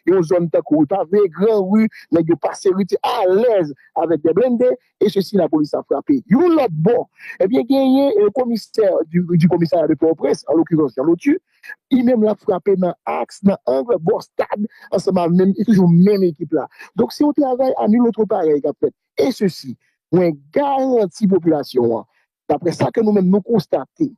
yon zòn tankou rue Pavée, Grand Rue, nèg yo pase rue ti alèz avèk 2 blende e sesi lapolis ap frape. Yon lòt bò, ebyen genyen komisè di komisarya de Pòtoprens, an lokirans Jean Lotu, li menm lap frape nan aks, nan ang, bò stad, ansanm avèk menm, e toujou menm ekip la. Donk se yon travay a nul autre parèy kap fèt. E sesi, mwen garanti popilasyon an, daprè sa ke nou menm nou konstate,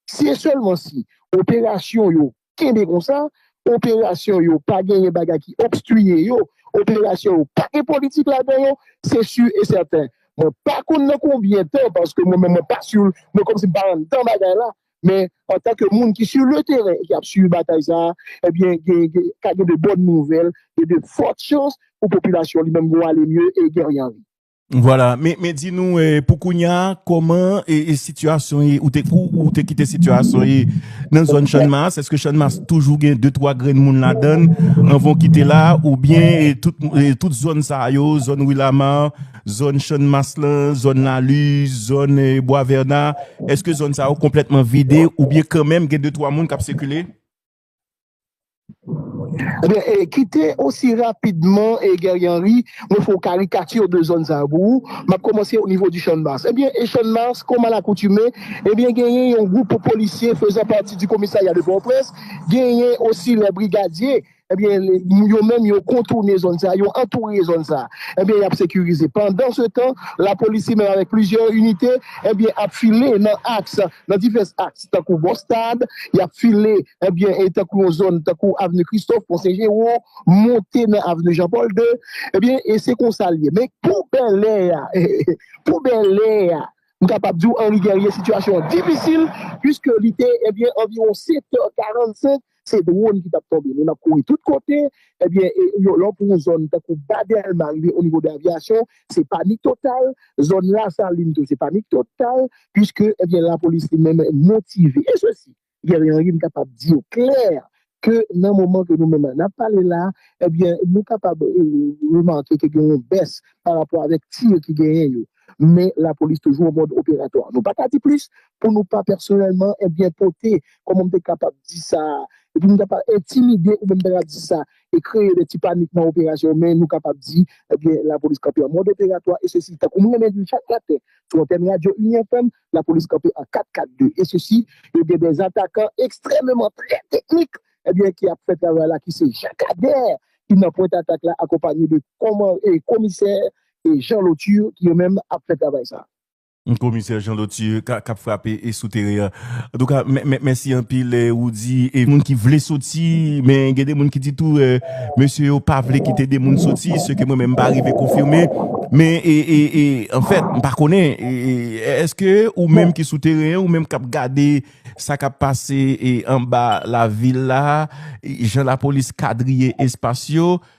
Si e sèlman si operasyon yo kenbe konsa, operasyon yo pa genyen bagay ki obstwiye yo, operasyon yo pa gen politik ladan yo, se si e sèten, mwen pa konn nan konbyen tan, paske mwen menm mwen pa si, mwen kòm si m pa anndan bagay la, men antanke moun ki si le teren e ki ap swiv batay sa a, ebyen gen gen ka gen de bòn nouvèl e de fòt chans pou popilasyon li menm gou ale mye e Guerrier Henry. Vwala, men di nou pou kounya kòman e sitiyasyon e ou te kou ou te kite sitiyasyon e nan zòn chanmas, eske chanmas toujou gen 2 3 grenn moun la donn anvan kite la ou byen tout zòn sa yo, zòn wilama zòn chanmas lan, zòn la li zòn bwa verna eske zòn sa yo konpletman vide ou byen kanmenm gen 2 3 moun kap sekile? Ebyen kite osi rapidman Guerrier Henri mwen fè yon karikatir de zòn sa yo pou ou, m ap kòmanse o nivo di Channmas. Ebyen e Channmas kòm a lakoutime ebyen genyen yon gwoup polisye fezan pati di komisarya de Pòtoprens, genyen osi lè brigadye ebyen yo menm yo kontoune zòn sa, yo antoure zòn sa ebyen y ap sekirize. Pandansetan lapolis li menm avèk plizyè inite ebyen ap file nan aks nan divès aks tankou bò stad, y ap file ebyen e tankou yon zòn tankou avni Kristòf, Pon Sen Jero, monte nan avni Jan Pòl 2, ebyen e se konsa l ye. Men pou Bèlè a, pou Bèlè a, m kapab di w Anri Gèrye sitiyasyon an difisil, puiske li te ebyen anviwon 7 è 45 se dwon ki t ap tonbe. Moun ap kouri tout kote. Ebyen, lè w pran yon zòn tankou Ba Dèlma rive onivo de Aviyasyon, se panik total. Zòn Lasalin tou, se panik total. Piske, ebyen, lapolis li menm motive. E se si, Guerrier Henry, m kapab di w klè ke nan moman ke nou menm n ap pale la, ebyen, nou kapab remake ke gen yon bès parapò avèk tir ki genyen yo. men lapolis toujou an mòd operatwa. Nou pa ka di plis pou nou pa pèsonèlman ebyen pote, kòman m te kapab di sa, epi m ta pa entimide oubyen m ta ka di sa e kreye de ti panik nan operasyon men nou kapab di ebyen lapolis kanpe an mòd operatwa e sesi tankou m renmen di l chak maten sou antèn radyo Union FM lapolis kanpe an 4 4 2 e sesi yo gen de zatakan ekstrèmeman trè teknik ebyen ki ap fè travay la ki se Jean Cader ki nan pwent atak la akonpanye de kòman e komisè e Jean Lauture ki yo menm ap fè travay sa a. Komisè Jean Lauture k ap frape sou teren an. Antouka, mèsi anpil Roody. E moun ki vle soti, men gen de moun ki di tou mesye yo pa vle kite de moun soti, se ke mwen menm m pa rive konfime. Men, anfèt, m pa konnen, èske ou menm ki sou teren, ou menm k ap gade sa k ap pase anba lavil la, jan lapolis kadriye espas yo,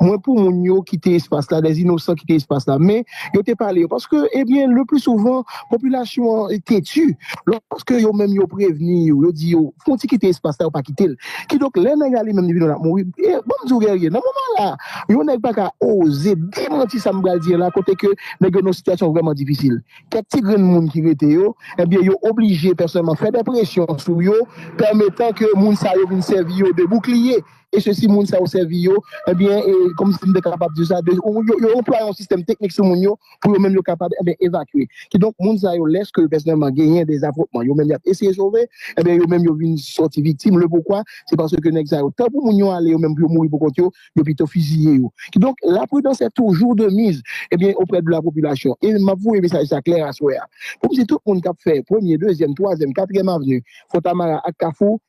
mwen pou moun yo kite espas la, des inosan kite espas la, men yo te pale yo, paske ebyen eh le pli souvan popilasyon an teti, lòske yo menm yo prevni yo, yo di yo fon ti kite espas la yo pa kite l, kidonk lè nèg ale menm li vin wè l ap mouri, e banm di w Guerrier nan moman la yon nèg pa ka oze demanti sa m pral di an la kote ke nèg yo nan yon sitiyasyon vrèman difisil, kèk ti grenn moun ki rete yo, ebyen yo oblije pèsonèlman fè dè presyon sou yo pèmetan ke moun sa yo vin sèvi yo de boukliye e sesi moun sa yo sèvi yo, ebyen e kòmsi m te kapab di sa, yo anplwaye yon sistèm teknik sou moun yo pou yo menm yo kapab ebyen evakye. Kidonk moun sa yo lèske pèsonèlman genyen de afwontman yo menm y ap eseye sove, ebyen yo menm yo vin sòti viktim. Lepoukwa? Se paske nèg sa yo tan pou moun yo ale yo menm pou yo mouri pou kont yo, yo pito fiziye yo. Kidonk la pridans è toujou de miz ebyen oprè de la popilasyon. E m ap voye mesaj sa klè aswè a pou m di tout moun k ap fè premye, dezyèm, twazyèm, katriyèm avni, Fontamara ak Kafou,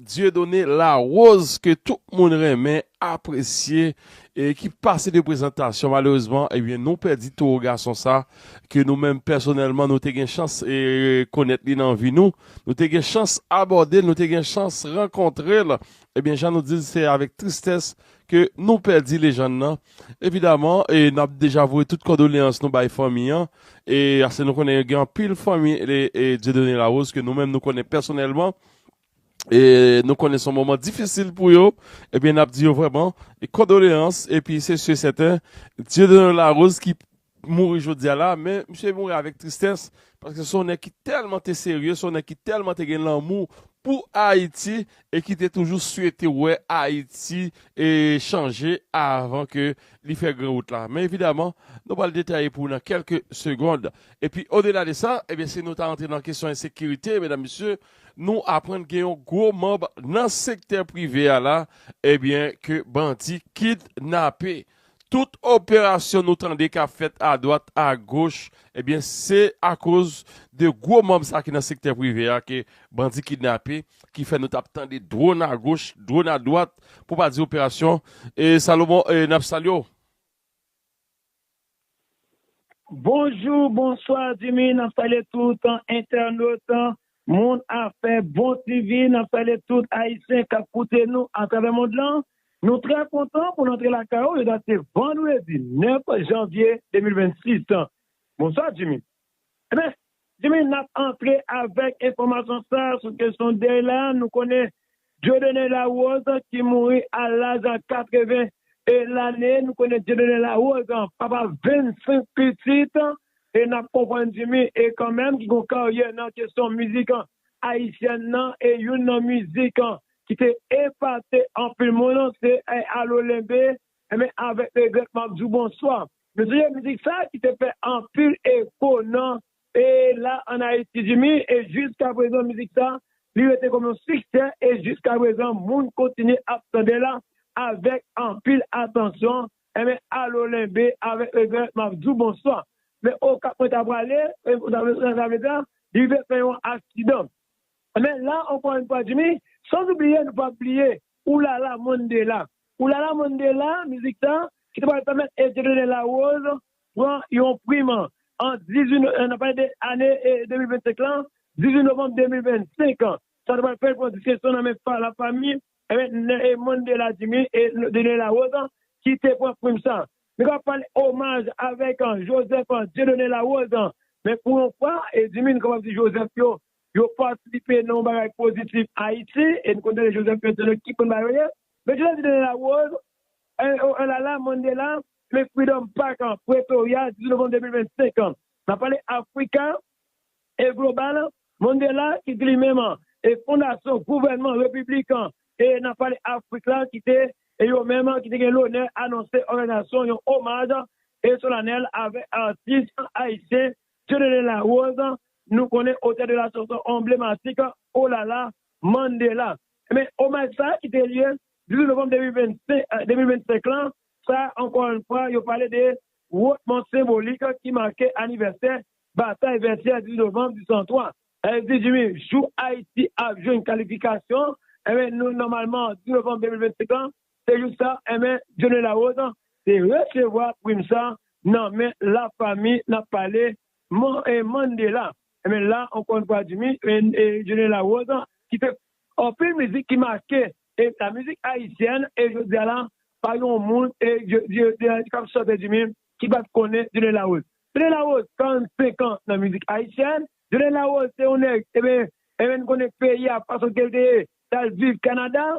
Dieudonné Larose ke tout moun renmen, apresye e ki pase de prezantasyon malerezman ebyen nou pèdi towo gason sa ke nou menm pèsonèlman nou te gen chans konèt li nan vi nou, nou te gen chans abòde l, nou te gen chans rankontre l ebyen jan nou di l se avèk tristès ke nou pèdi lejann nan evidaman e n ap deja voye tout kondoleyans nou bay fanmi an e aske nou konnen gen anpil fanmi Dieudonné Larose ke nou menm nou konnen pèsonèlman. E nou konnen son moman difisil pou yo ebyen nap di yo vrèman kondoleyans epi se si e sèten Dieudonne Larose ki mouri jodia la men misye mouri avèk tristès paske son nèg ki tèlman te serye son nèg ki tèlman te gen lanmou pou Ayiti e ki te toujou swete wè Ayiti e chanje avan ke li fè gran wout la men evidaman nou pral detaye pou nou nan kèlke segond. Epi odela de sa, ebyen si nou ta rantre nan kesyon ensekirite, medam mesye, nou aprann gen yon gwo manb nan sektè prive a la, ebyen ke bandi kidnape. Tout operasyon nou tande k ap fèt adwat agoch, ebyen se akoz de gwo manb sa ki nan sektè prive a ke bandi kidnape, ki fè nou t ap tande dwon agoch, dwon adwat, pou pa di operasyon. E Salomon, e n ap salye w. Bonjou bonswa dimi nap salye tout entènot moun afè bon TV nap salye tout ayisyen kap koute nou atravè mond lan nou trè kontan pou nou antre lakay ou jodya se vandredi 9 janvye 2026 bonswa dimi. Ebyen Jimmy nap antre avèk enfòmasyon sa sou kesyon dèy la, nou konnen Dieudonné Larose ki mouri a laj 80 lane, nou konnen Dieudonné Larose papa 25 pitit e nap konprann Jimmy e kanmenm ki gon karyè nan kesyon mizik ayisyèn nan e youn nan mizik ki te epate anpil moun se Alo Lenbe, ebyen avèk regrèt map di w bonswa. Nou sonje mizik sa ki te fè anpil eko nan e la an Ayiti di mi e jiska prezan mizik sa li rete kòm yon siksè e jiska prezan moun kontinye ap tande la avèk anpil atansyon enben alo Lenbe avèk regrè map di w bonswa men Okap mwen ta prale e sa vle di li rive fè yon aksidan. Anben la ankò yn fwa Jimmy, sans oubliye nou pap bliye Ou la la Mandela. Ou la la Mandela mizik sa ki te pral pèmèt Dieudonne Larose pran yon prim an 18 no, nap pale de ane 2025 lan, 18 novanm 2025. Sa te pral fè l pran distenksyon nan men la fami e Mandela Jimmy e Dieudonne Larose ki te pran prim sa. Nou kapab pale omaj avèk Joseph Dieudonne Larose men pou yon fwa Jimmy nou kapab di Joseph yo Yo patisipe nan yon bagay pozitif Ayiti e n konn tande Joseph Berthelot ki konn ba yo lyen. Berthelot di nan La Rose, Oh la la, Mandela, men Freedom Park an, Pretoria, 18 novanm 2025 an. N ap pale Africa e Global an, Mandela ki te li menm an e fondasyon gouvènman repiblik an e n ap pale Afrik la ki te e yo menm ki te gen lonè anonse òganizasyon yon omaj e solanèl avèk atis ayisyen Dieudonne Larose, nou konnen otè de la chanson onblematik O Lala Mandela. Enben, omaj sa a ki te lye 18 novanm 2025 lan, sa a ankò yon fwa yo pale de wotman senbolik ki make anivèsè batay Vètyè 18 novanm 1803. Èl di Jimmy, jou Ayiti ap jwenn kalifikasyon, enben nou nòmalman 18 novanm 2025 lan Se jis sa, enben, Dieudonné Larose te resevwa prim sa nan men lafanmi n ap pale Mandela. Enben la, ankò yon fwa Jimmy, Dieudonné Larose ki fè anpil mizik ki make lamizik ayisyèn e jodi a la, pa gen yon moun k ap chante Jimmy ki pa t konnen Dieudonné Larose. Dieudonné Larose, 45 an nan mizik ayisyèn. Dieudonné Larose se yon nèg, enben, nou konnen peyi a fason ke l te ye, l al viv Kanada.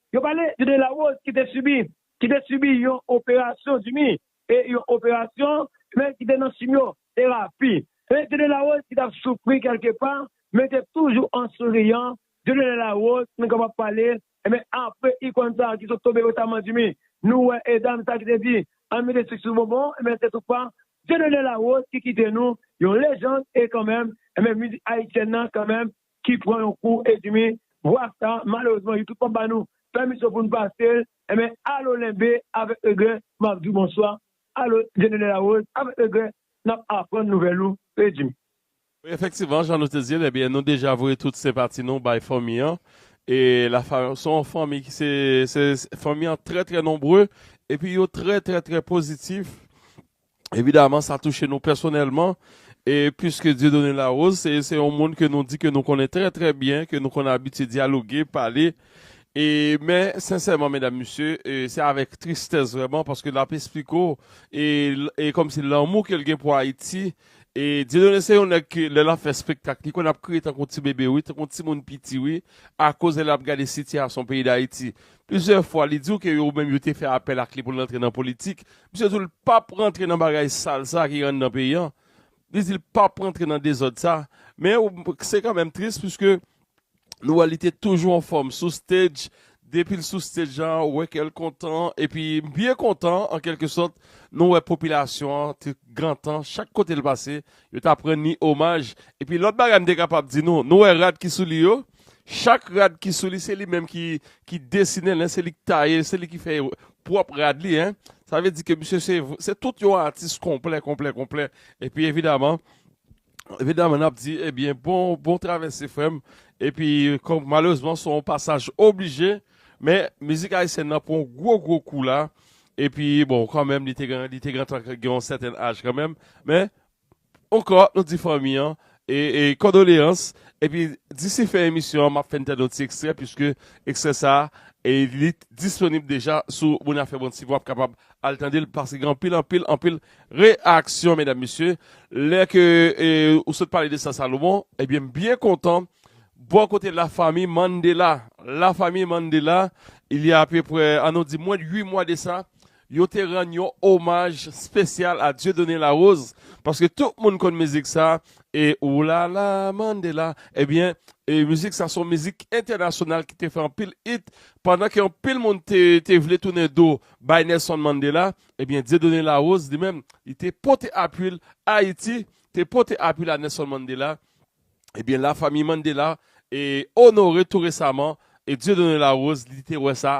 Yo pale de Delarose ki te sibi ki te sibi yon operasyon di mi e yon operasyon men ki te nan chimyo terapi e de Delarose ki tap soufri kelke pa men te toujou an souriyan de Delarose nou kapab pale enben apre ikòn sa ki sot tonbe resaman di mi nou wè e dam sa ki te di ann mete sik sou bonbon enben se tou pa de Delarose ki kite nou yon lejand e kanmenm enben mizik ayisyèn nan kanmenm ki pran yon kou edmi vwa sa malerezman youtube pap ba nou pèmisyon poun pasel enben alo lenbe avèk regrè map diw bonswa alo djenene larose avèk regrè nap aprann nouvèl ou edmi. Wi efektivman jan nou te dil ebyen nou deja voye tout senpati nou bay fanmi an e la fa son yon fanmi ki se se fanmi an trè trè nonbre epi yo trè trè trè pozitif Evidaman sa touche nou pèsonèlman e puiske Dieudonné Larose se yon moun ke nou di ke nou konnen trè trè byen, ke nou konn abitye dyaloge, pale e men sensèman medam mesye se avèk tristès vrèman paske lap esplike w e kòmsi lanmou ke l gen pou Ayiti e Dieudonné se yon nèg ke lè lap fè spektak li konn ap kriye tankou ti bebe wi, tankou ti moun piti wi akoz lè lap gade sitiyasyon peyi Dayiti. Plizyè fwa li di w ke yo menm yo te fè apèl ak li pou l rantre nan politik. Misye di w l pap rantre nan bagay sal sa ki anndan peyi an. Li di l pap rantre nan dezòd sa. Men se kanmenm tris puiske nou wè li te toujou anfòm sou stage. Depi l sou stage la ou wè kè l kontan epi byen kontan an kèlke sòt. Nou wè popilasyon an te gentan chak kote l pase yo ta p rann li omaj. Epi lòt bagay m te kapab di nou, nou wè rad ki sou li yo. Chak rad ki sou li se li menm ki desinen l, se li ki taye l, se li ki fè pwòp rad li. Sa vle di ke misye se tout yon atis konplè, konplè, konplè. E pi evidaman, evidaman n ap di ebyen bon travèse frè m. E pi kòm malerezman se yon pasaj oblije, men mizik ayisyèn nan pran yon gwo gwo kou la. E pi bon kanmenm li te gen tan gen yon sèten aj kanmenm. Men Ankò nou di fanmi an kondoleyans epi disi fen emisyon an map fè n tande yon ti ekstrè puiske ekstrè sa li disponib deja sou monaferonti wap kapab al tande l paske gen anpil anpil anpil reyaksyon medam mesye lè ke ou sot pale de sa Salomon ebyen m byen kontan bò kote la famille Mandela la famille Mandela il ya apeprè an nou di mwens de 8 mwa de sa Yo te rann yon omaj spesyal a Dieudonné Larose paske tout moun konn mizik sa e ou la la Mandela ebyen e mizik sa son mizik entènasyonal ki te fè anpil it pandan ke anpil moun te te vle tounen do bay Nelson Mandela ebyen Dieudonné Larose li menm li te pote apwil Ayiti te pote apwil a Nelson Mandela ebyen la famiy Mandela e onore tou resaman e Dieudonné Larose li te wè sa